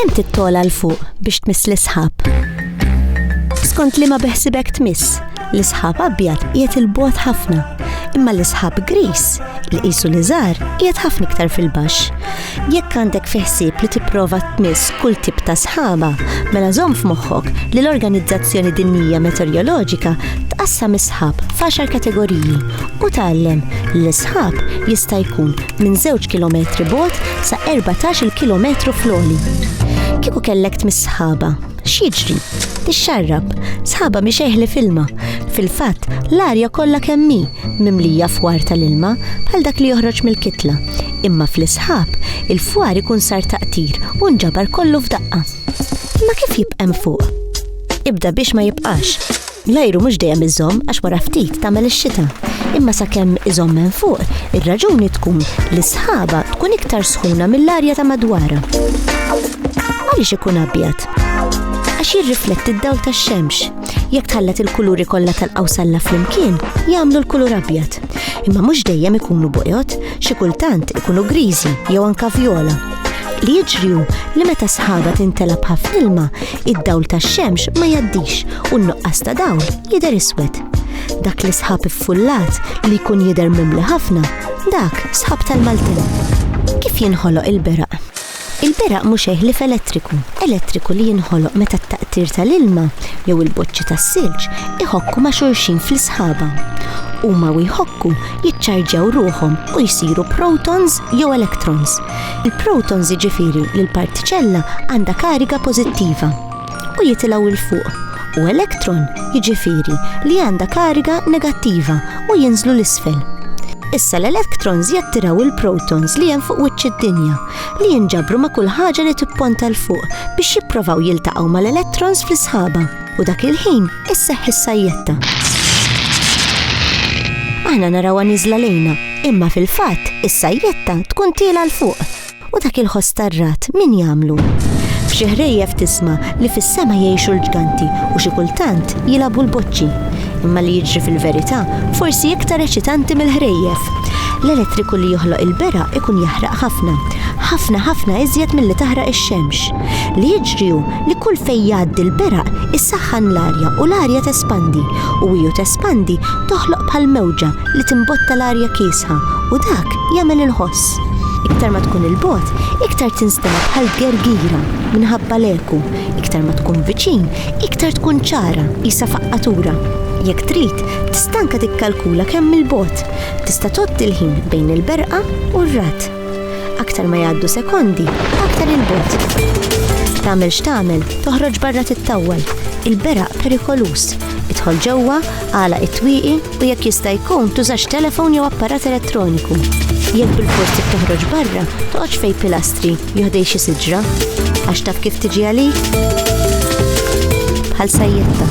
Kemm tittola l fuq biex tmiss l-isħab? Skont li ma beħsibek tmiss, l-isħab abjad qiegħed il-bot ħafna, imma l-isħab gris li qisu li żgħar qiegħed ħafna iktar fil-baxx. Jekk għandek fi ħsieb li tipprova tmiss kull tip ta' sħaba, mela żomm f'moħħok li l-Organizzazzjoni Dinjija Meteorjoloġika tqassam is-sħab f'għaxar kategoriji u tgħallem li l-sħab jista' jkun minn żewġ kilometri bogħod sa erbatax-il kilometru fl-għoli. Kieku kellek tmiss sħaba, X'jiġri? Ixxarrab. Sħaba mhix eħli f'ilma. Fil-fatt, l-arja kollha kemm hi mimlija fwar tal-ilma bħal dak li joħroġ mill-kitla. Imma fl-isħab, il-fwar ikun sar taqtir u nġabar kollu f'daqqa. Imma kif jibqa' hemm fuq? Ibda biex ma jibqax. L-ajru mhux dejjem iżomm għax wara ftit tagħmel ix-xita. Imma sakemm iżomm hemm fuq, ir-raġuni tkun li s-sħaba tkun iktar sħuna mill-arja ta' madwarha. Għaliex ikun abjad? Għax jirrifletti d-dawl tax-xemx. Jekk tħallat il-kuluri kollha tal-qawsalla flimkien, jagħmlu l-kulur abjad. Imma mhux dejjem ikunu buqjot, xi kultant ikunu griżi jew anke vjola. li jiġri hu li meta sħaba tintelab ħafna ilma, id-dawl tax-xemx ma jaddix u n-nuqqas ta' dawl jidher iswed. Dak li sħab iffullat li jkun jidher mimli ħafna, dak sħab tal-Maltin. Kif jinħoloq il-beraq? Il-beraq mhux eħli f'elettriku, elettriku li jinħoloq meta t-taqtir tal-ilma jew il-boċċi tas-silġ iħokku ma' xulxin fl-isħaba. Huma u jħokku jiċċarġjaw ruħhom u jsiru protons jew electrons. Il-protons jiġifieri li l-partiċella għandha kariga pożittiva u jitilgħu 'l fuq u electron jiġifieri li għandha kariga negattiva u jinżlu 'l isfel. Issa l-electrons jattiraw il-protons li hemm fuq wiċċ id-dinja li jinġabru ma' kull ħaġa li tipponta 'l fuq biex jipprovaw jiltaqgħu mal-electrons fl-isħaba. u dak il-ħin isseħħ is-sajjetta. Aħna narawha niżla lejna, imma fil-fatt is-sajjetta tkun tiela l fuq u dak il-ħoss tar-ragħad min jagħmlu? F'xi ħrejjef tisma' li fis-sema jgħixu l-ġganti u xi kultant jilagħbu l-boċċi. Imma li jiġri fil-verità forsi iktar eċitanti mill-ħrejjef. L-elettriku li joħloq il-bera ikun jaħraq ħafna, ħafna ħafna iżjed milli taħraq ix-xemx. Li jiġri hu li kull fejn jgħaddi l-beraq issaħħan l-arja u l-arja tespandi u hi u tespandi toħloq bħal mewġa li timbotta l-arja kiesħa u dak jagħmel il-ħoss. Iktar ma tkun 'il bogħod, iktar tinstema' bħal gergira minħabba l-eku, iktar ma tkun viċin, iktar tkun ċara, qisha faqqatura. Jekk trid, tista' anke tikkalkula kemm 'il bogħod. Tista' tgħodd il-ħin bejn il-berqa u r-ragħad. Aktar ma jgħaddu sekondi, aktar il-bot. Tagħmel x'tagħmel, toħroġ barra tittawwal. Il-beraq perikoluż. Idħol ġewwa, għala it-twieqi u jekk jista' jkun tużax telefon jew apparat elettroniku. Jekk bil-forsi toħroġ barra, toqgħodx fej pilastri joħdej xi siġra. Għax taf kif tiġi għalik? Bħal sajjetta.